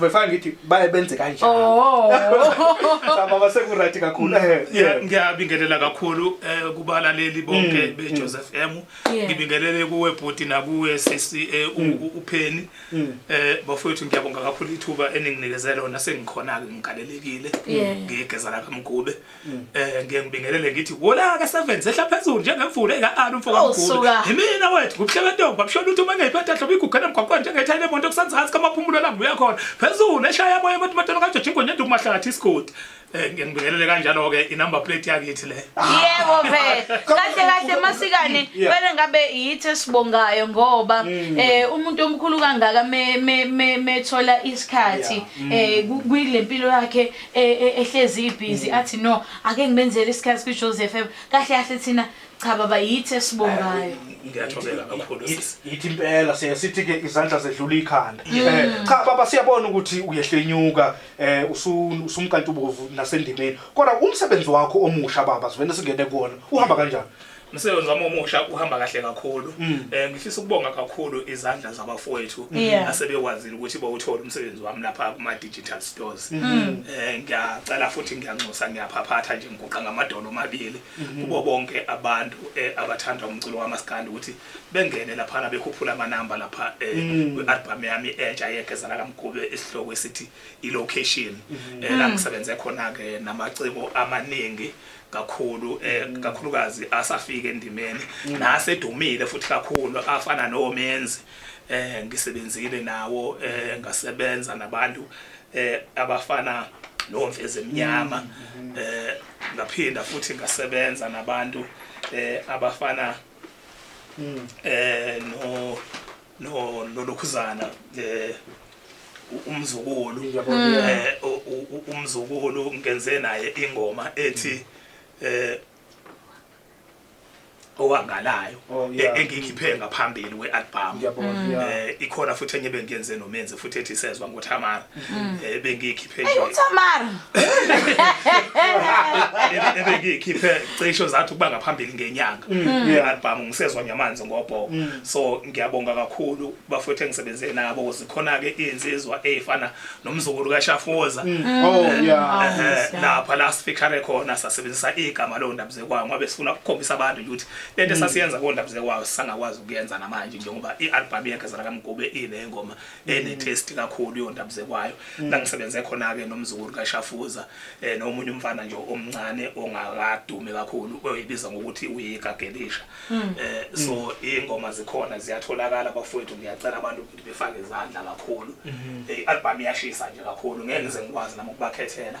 Befana ngithi baye benze kanjani. Oh. Sababa sekuright kakhulu. Eh, yeah, ngiyabingelela kakhulu eh kubalaleli bonke mm, be mm. Joseph M. Ngibingelele kuwe bhuti nakuwe sisi eh, mm. upheni. Eh bafowethu ngiyabonga kakhulu ithuba eninginikeze lona sengikhona ke ngigalelekile. Ngigeza lapha mgube. eh ngeke ngibingelele ngithi wola ka seven sehla phezulu njengemvula ekaana umfoka Oh, mkhulu suka. yimina wethu kubuhle bentombi abishona ukuthi uma ngeyiphethe hlobo igugela emgwaqweni njengethayile emonto kusanzansi kamaphumulo la ngibuya khona phezulu eshaya moya abantu bathola kajoji ingwenye nduku mahlathi isigodi eh ngeke ngibingelele kanjalo ke inumber plate yakithi le yebo vele kahle kahle masikane Yeah. vele ngabe yithi esibongayo ngoba eh umuntu omkhulu kangaka me- me- me- methola isikhathi eh ku- kuyile mpilo yakhe e, e, ehlezi ibhizi mm. athi no ake ngimenzele isikhathi kwi-joseph m kahle kahle thina cha baba yithi esibongayo ngiyathobela kakhulu yithi impela sithi ke izandla zedlula ikhanda eh, cha baba siyabona ukuthi uyehlenyuka eh usumkantubovu nasendimeni kodwa umsebenzi wakho omusha baba sivele singene kuona uhamba kanjani umsebenzi wami omusha uhamba kahle kakhulu um ngifisa ukubonga kakhulu izandla zabafowethu mm. asebekwazile ukuthi bawuthole umsebenzi wami lapha kuma-digital stores um mm. eh, ngiyacela futhi ngiyanxusa ngiyaphaphatha nje ngiguqa ngamadolo omabili mm-hmm. kubo bonke abantu eh, abathanda umculo wamaskandi ukuthi bengene laphana bekhuphula amanamba lapha um kwi-albhamu yami entsha yegezala kamgube isihloko esithi i-location um mm-hmm. la ngisebenze khona-ke namaciko amaningi kakhulu eh kakhulukazi asafika endimeni nasedumile futhi kakhulu afana nomenzi eh ngisebenzile nawo eh ngasebenza nabantu eh abafana nomfezi emnyama mm-hmm. eh ngaphinda futhi ngasebenza nabantu eh abafana mm. eh no no nolokhuzana eh u- umzukulu eh u- u- u- umzukulu ngenze naye ingoma ethi eh owangalayo Oh, yeah. e- engiyikhiphe ngaphambili kwealbum Ngiyabona, yeah. eh ikhona futhi enye bengiyenze nomenzi futhi ethi sezwa ngothamara mm. eh, ebengiyikhiphe nje uthamara ebengiyikhiphe cisho zathi ukuba ngaphambili ngenyanga mm. i-album ngisezwa nyamanzi ngobhoko mm. so ngiyabonga kakhulu bafowethu engisebenze nabo ukuthi khona-ke iy'nsizwa ey'fana nomzukulu kashafoza oh, eh, eh, lapha la sifikhare khona sasebenzisa igama leyo ndabuzekwayo ngoba sifuna ukukhombisa abantu ukuthi lento esasiyenza kowo ndabuzekwayo sisangakwazi ukuyenza namanje njengoba i-album yekezela kamgube ile ngoma enetest kakhulu yondaba zekwayo mm. la ngisebenze khona-ke nomzukulu kashafuza um nomunye umfana nje omncane ongakadumi kakhulu oyibiza ngokuthi uyikagelisha um mm. eh, so mm. iy'ngoma zikhona ziyatholakala bafowethu ngiyacela abantu ukuthi befake izandla kakhulu mm-hmm. eh, i-albhamu iyashisa nje kakhulu ngeke ngize ngikwazi nami ukubakhethela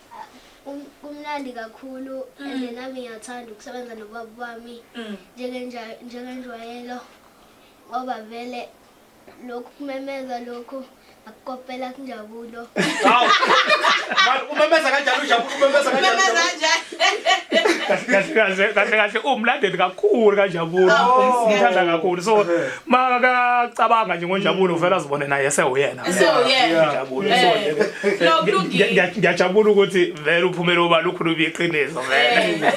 kumnandi kakhulu mm. and nami ngiyathanda ukusebenza nobaba wami mm. njengenjwayelo ngoba vele lokhu kumemeza lokhu akukopela kunjabulo umemeza kanjani ujabulo umemeza kanjani kahle kahle uwumlandeli kakhulu kanjabulo umthanda kakhulu so makacabanga nje ngonjabulo uvela azibone naye esewuyena ngiyajabula ukuthi vele uphumele uba lukhulu biyiqiniso vele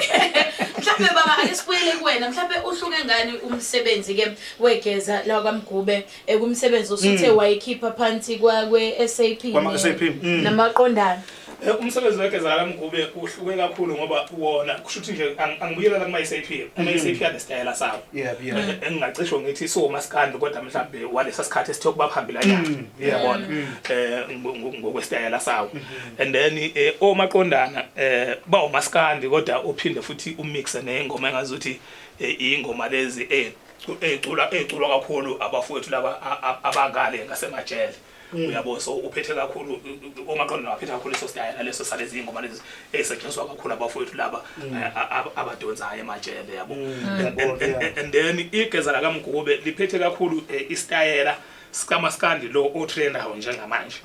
mhlawumbe baba ake sibuyele kuwena mhlawumbe uhluke ngani umsebenzi ke wegeza la kwamgube ekumsebenzi osuthe mm. wayikhipha phansi kwakwe SAP mm. namaqondana Eh, umsebenzi wegeza kamgube uhluke kakhulu ngoba wona kusho ukuthi nje angibuyela la kuma-sap ama-sap mhm. anesitayela sawo eh, engingacisho ngithi siwomasikandi kodwa mhlawumbe walesa sikhathi esithe ukuba phambili anyana mm, yabona mm. eh, um ngokwesitayela sawo mhm. and then omaqondana um bawumasikandi kodwa uphinde futhi umixe neyingoma engazi ukuthi iyingoma lezi eyiculwa kakhulu abafowethu laba abangale ngasemajele Mm. uyabo so uphethe kakhulu omaqondo nawaphethe kakhulu leso stayela leso salezi ingoma lezi ezisetshenziswa kakhulu abafowethu laba mm. eh, abadonsayo emajele yabo mm. and then igeza lakamgube liphethe kakhulu eh, istayela sikamaskandi lo otrendayo njengamanje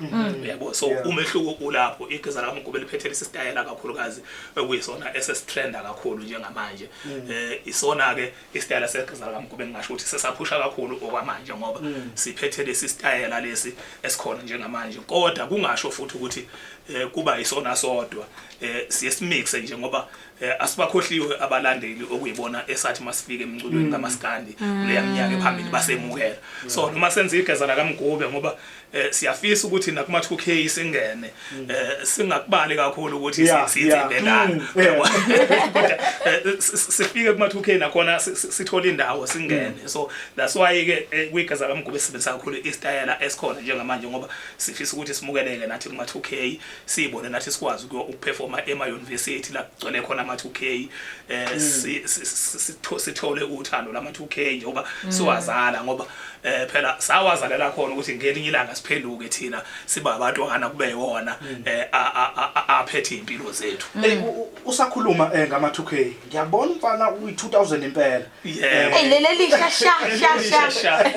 uyabo so umehluko ulapho igeza lakamgube liphethe lesi stayela kakhulukazi okuyisona esesitrenda kakhulu njengamanje eh, isona-ke isitayela seqeza likaMgube ngingasho ukuthi sesaphusha kakhulu okwamanje ngoba mm. siphethe lesi sitayela lesi esikhona njengamanje kodwa kungasho futhi ukuthi eh, kuba isona sodwa eh, siye simixe nje ngoba eh, asibakhohliwe abalandeli okuyibona esathi masifike emculweni mm. kamaskandi mm. kuleya minyaka ephambili basemukela so noma senza igeza lakaMgube ngoba eh, siyafisa ukuthi nakuma 2K singene mm. eh, singakubali kakhulu ukuthi sithembe ngani mm, kodwa eh, sifike kuma 2K nakhona sithola indawo singene mm. so that's why ke eh, kwigeza kamgube sibenzisa kakhulu istayela esikhona njengamanje ngoba sifisa ukuthi simukeleke nathi kuma 2K sibone nathi sikwazi ukuperforma ema university la gcwele khona ama 2K eh sithole uthando lama 2K njengoba siwazala ngoba eh phela sawazalela khona ukuthi ngelinye ilanga siphenduke thina siba abantwana kube yona mm. eh aphethe impilo zethu mm. eh, usakhuluma eh, ngama 2k ngiyabona umfana uyi 2000 impela eh, hey lele lisha sha sha sha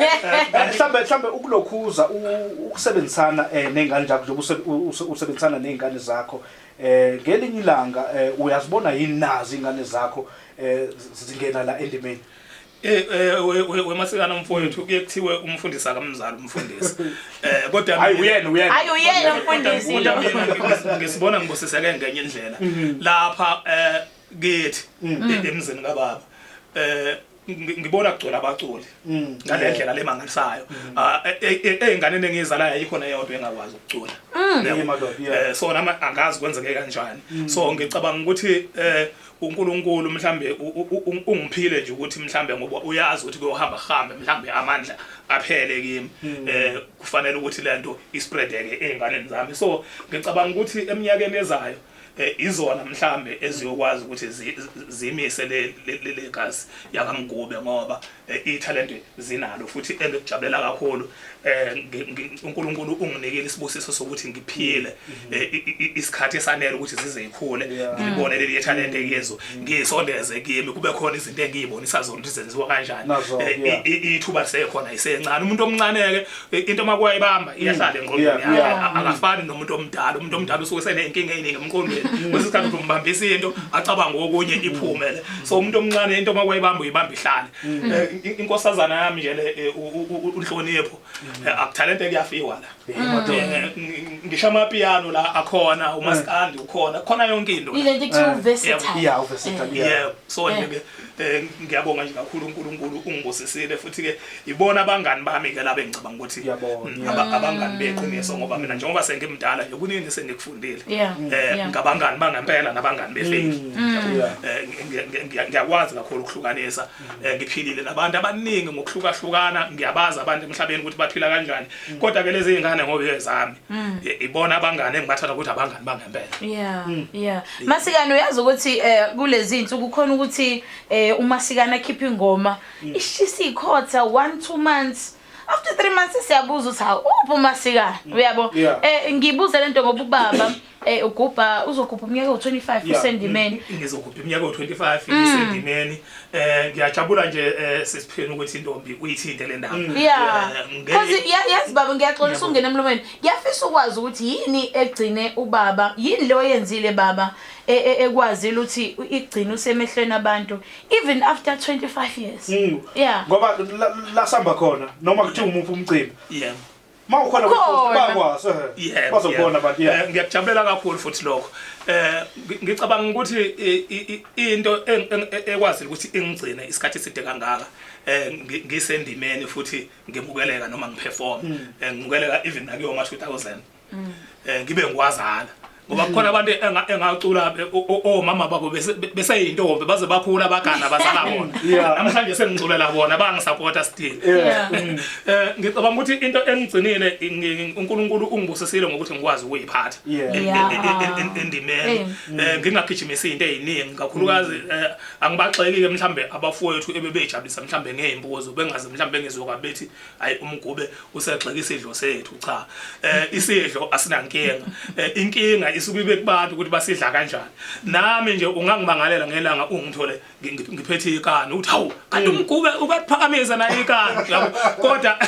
mhlambe mhlambe ukulokhuza ukusebenzisana nezingane zakho njengoba usebenzisana nezingane zakho eh ngelinye ilanga uyazibona yini nazi ingane zakho eh zingena la endimeni Eh, eh wemasikana mfowethu kuye kuthiwe umfundisi akamzali umfundisi. Eh kodwa hayi uyena uyena. Hayi uyena umfundisi. Kodwa mina ngisibona ngibusiseke ngenye indlela. Mhm. Lapha eh kithi mm. e-, emzini kababa. Eh ngibona kugcwele abaculi mm. ngale ndlela le mangalisayo mm. ah, e, e, e, ezinganeni engizalayo ayikho neyodwa engakwazi ukucula mm. eh, so nama angazi kwenzeke kanjani so ngicabanga ukuthi eh, uNkulunkulu mhlambe ungiphile nje ukuthi mhlambe ngoba uyazi ukuthi kuyohamba hambe mhlambe amandla aphele kimi hmm. eh kufanele ukuthi lento ispreadeke ezinganeni zami so ngicabanga ukuthi eminyakeni ezayo eh, izona mhlambe eziyokwazi ukuthi zimise le legazi yakamgube ngoba Eh, ithalente zinalo futhi engikujabulela kakhulu um unkulunkulu unginikile isibusiso sokuthi ngiphile mm-hmm. eh, isikhathi esanele ukuthi zize yikhule ngilibone leli yethalente mm-hmm. yezo mm-hmm. ngiyisondeze kimi kube khona izinto engiyibonisa zona ukuthi zenziwa kanjani ithuba lisekhona isencane umuntu omncane-ke into uma kuyayibamba mm. iyasala engqondweni akafani nomuntu omdala umuntu omdala usuke senenkinga eyiningi emqondweni mm. kwesinye isikhathi uthi umbambisa into acabanga okunye mm. iphume le so umuntu omncane into uma kuyayibamba uyibamba ihlale eh, inkosazana yami nje le eh, unhlonipho eh, akuthalente kuyafiwa la ngisho amapiano la akhona umaskandi ukhona khona yonke into ile nto kuthiwa uversatile yeah uversatile yeah so nje ke Eh, ngiyabonga nje kakhulu uNkulunkulu ungibusisile futhi ke ibona abangani bami ke labe ngicabanga ukuthi mm, abangani beqiniso ngoba mina njengoba sengimdala nje kuningi sengikufundile eh ngabangani bangempela nabangani befeki mm. eh, ngiyakwazi kakhulu ukuhlukanisa mm. eh, ngiphilile nabantu abaningi ngokuhlukahlukana ngiyabazi abantu emhlabeni ukuthi baphila kanjani kodwa ke lezi ingane ngoba ezami ibona abangani engibathatha ukuthi abangani bangempela yeah yeah Masikana uyazi ukuthi eh kulezi insuku khona ukuthi eh umasikana akhipha ingoma mm. ishisa ikhotha 1 2 months after 3 months siyabuza ukuthi hawu uphi umasikana mm. uyabo eh ngibuze lento ngoba ubaba eh ugubha uzogubha umnyaka wo25 usendimeni mm, ngizogubha umnyaka wo25 usendimeni eh ngiyajabula nje eh, sisipheni ukuthi intombi uyithinte le ndaba eh, because yazi baba ngiyaxolisa ungena emlomeni Ngiyafisa ukwazi ukuthi yini egcine ubaba, yini le oyenzile baba e, e, ekwazile ukuthi igcine usemehlweni abantu even after 25 years. Mm. Yeah. Ngoba la- la sihamba khona noma kuthiwa umuphi umcimbi. yebo Uma ukhona Khona. kufuthi bakwazi. eh, Yebo, Bazobona yebo. abantu Eh, yeah. ngiyakujabulela kakhulu futhi lokho eh ngi- ngicabanga ukuthi i- i- i- into eng- eng- ekwazile ukuthi ingigcine isikhathi eside kangaka eh ngi- ngisendimeni futhi ngemukeleka noma ngiperform mm. eh, ngimukeleka even nakuyo ma 2000 mm. eh, ngibe ngikwazana ngoba mm. kukhona abantu engacula omama oh, babo beseyintombi baze bakhula abagana bazala bona namhlanje sengiculela bona bangisapota still mm. eh, ngicabanga ukuthi into engigcinile unkulunkulu ungibusisile ngokuthi ngikwazi ukuyiphatha endimeni ngingagijimisi into eyiningi kakhulukazi Angibagxeki-ke mhlawumbe abafowethu ebebejabulisa mhlawumbe ngey'mbuzo bengaze mhlawumbe bengizwe bethi hhayi umgube usegxeka isidlo sethu cha eh isidlo asinankinga eh, inkinga isuke ibe kubantu ukuthi basidla kanjani nami nje ungangimangalela ngelanga ungithole ngiphethe ikani uthi hawu kanti mm. umgube ubephakamisa naye ikani yabo kodwa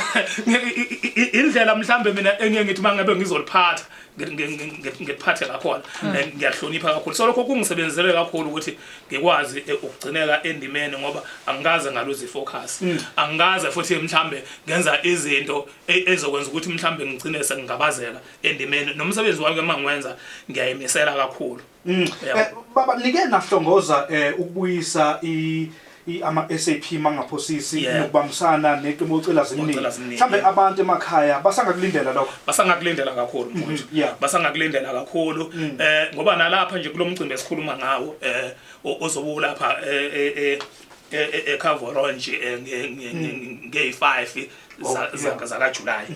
indlela mhlawumbe mina engiye ngithi mangabe ngizoliphatha ngiphathe ngakhona hmm. eh, ngiyahlonipha kakhulu so lokho kungisebenzele kakhulu ukuthi ngikwazi eh, ukugcineka endimeni ngoba angikaze ngaluzi focus hmm. angikaze futhi mhlambe ngenza izinto e, ezokwenza ukuthi mhlambe ngigcine sengingabazeka endimeni nomsebenzi wami ke mangiwenza ngiyayimisela kakhulu Mm. Eh, baba nike nahlongoza eh, ukubuyisa i i- ama SAP mangaphosisi Yeah. nokubambisana neqembu ocela zimnike Ocela Zimnike. mhlambe abantu emakhaya basangakulindela lokho basangakulindela kakhulu mfowethu Mhm, yeah. Mm. basangakulindela kakhulu eh ngoba nalapha nje kulomcimbi esikhuluma ngawo eh o- ozobuka lapha eh eh eh e-Cavoronge Mm. ngey-5 zakajulayi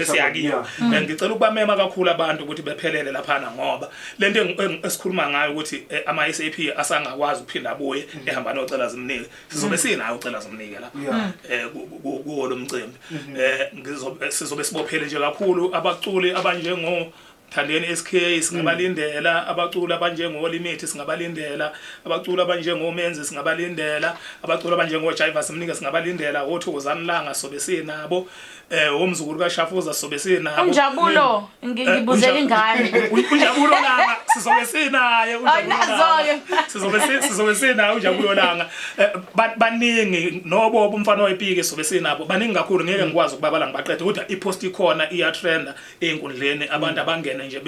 esiyakiyo and ngicela ukubamema kakhulu abantu ukuthi bephelele laphana ngoba le nto esikhuluma ngayo ukuthi eh, ama-s a p asangakwazi ukuphinda abuye mm-hmm. ehamba nocela zimnike sizobe mm-hmm. sinayo ucela zimnike lapha um kuwo lo mcimbi um sizobe sibophele nje kakhulu abaculi abanjengo Thandeni SK singabalindela mm. abaculi abanjengo Limit singabalindela abaculi abanjengo Menzi singabalindela abaculi abanjengo Jiva simnike singabalindela othokozani langa sobe sinabo eh umzukulu kaShafuza sobe sinabo Unjabulo mm. ngibuzela eh, ingane Unjabulo langa sizobe sinaye Unjabulo sizobe sizobe sinaye Unjabulo langa eh, baningi nobo umfana oyipike sobe sinabo baningi kakhulu ngeke ngikwazi ukubabala ngibaqede kodwa ipost ikhona iya trender ey'nkundleni abantu mm. abangene nje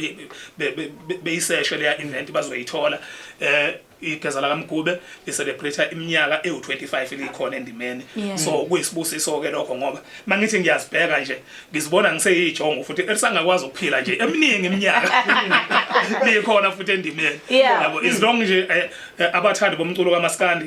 beyiseshe leya event bazoyithola eh igeza lakamgube licelebrate iminyaka ewu25 likhona endimeni so kuyisibusiso ke lokho ngoba mangithi ngiyazibheka nje ngizibona ngiseyijongo futhi elisangakwazi ukuphila nje eminingi iminyaka likhona futhi endimeni yabo is long nje eh, eh, abathandi bomculo kamaskandi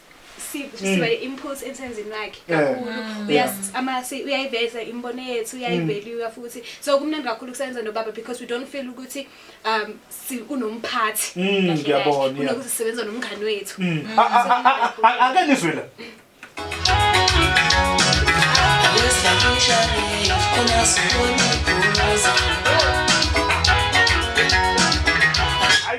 si- sibale impulse emsebenzini wakhe Yeah. kakhulu Mm. Uya- Yeah. ama- si- uyayiveza imibono yethu uyayivelua futhi so kumnandi kakhulu kusebenza nobaba because we don't feel ukuthi um si- unomphathi Mm, kahle kahle, ngiyabona, yeah. kunokuthi sisebenza nomngani wethu Mm. A- a- a- a- a- Ake nizwe la. Wesakishane, unasibona ibhulaza.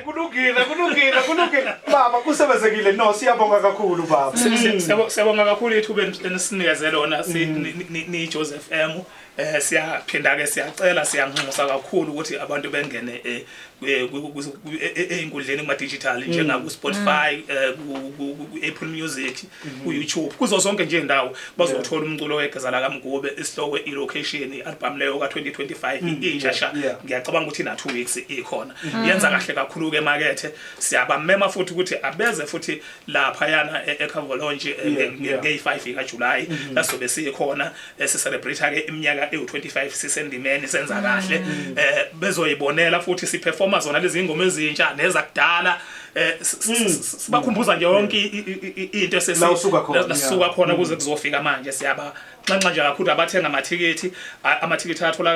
Kulungile, kulungile, kulungile. Baba kusebenzekile. No, siyabonga kakhulu baba. Siyabo- Siyabonga kakhulu ithuba eni- enisinikeze lona si- ni- ni- ni Joseph FM. Eh siyaphinda ke siyacela siyanxusa kakhulu ukuthi abantu bengene eh, kwi- kwi- kwi- kwi- e- e- einkundleni kuma digital njengaku Spotify eh, ku- ku- ku- ku- Apple Music ku-youtube kuzo zonke nje ndawo bazothola umculo wegeza lakamgube isihloko i-location i-album leyo ka-2025 mm, intsha sha ngiyacabanga ukuthi ina-two weeks ikhona mm. yenza kahle kakhulu-ke emakethe siyabamema futhi ukuthi abeze futhi laphayana e-ecavolonji e-, ngeyi-five ikajulayi mm-hmm. lasobe sikhona esi celebrate ke iminyaka ewu25 sisendimeni senza mm. kahle eh bezoyibonela futhi si performa zona lezi ingoma ezintsha nezakudala eh mm. sibakhumbuza nje yonke into esesi lasuka khona kuze mm. kuzofika manje siyaba nxanxa nje kakhulu abathenga amathikithi amathikithi atholakala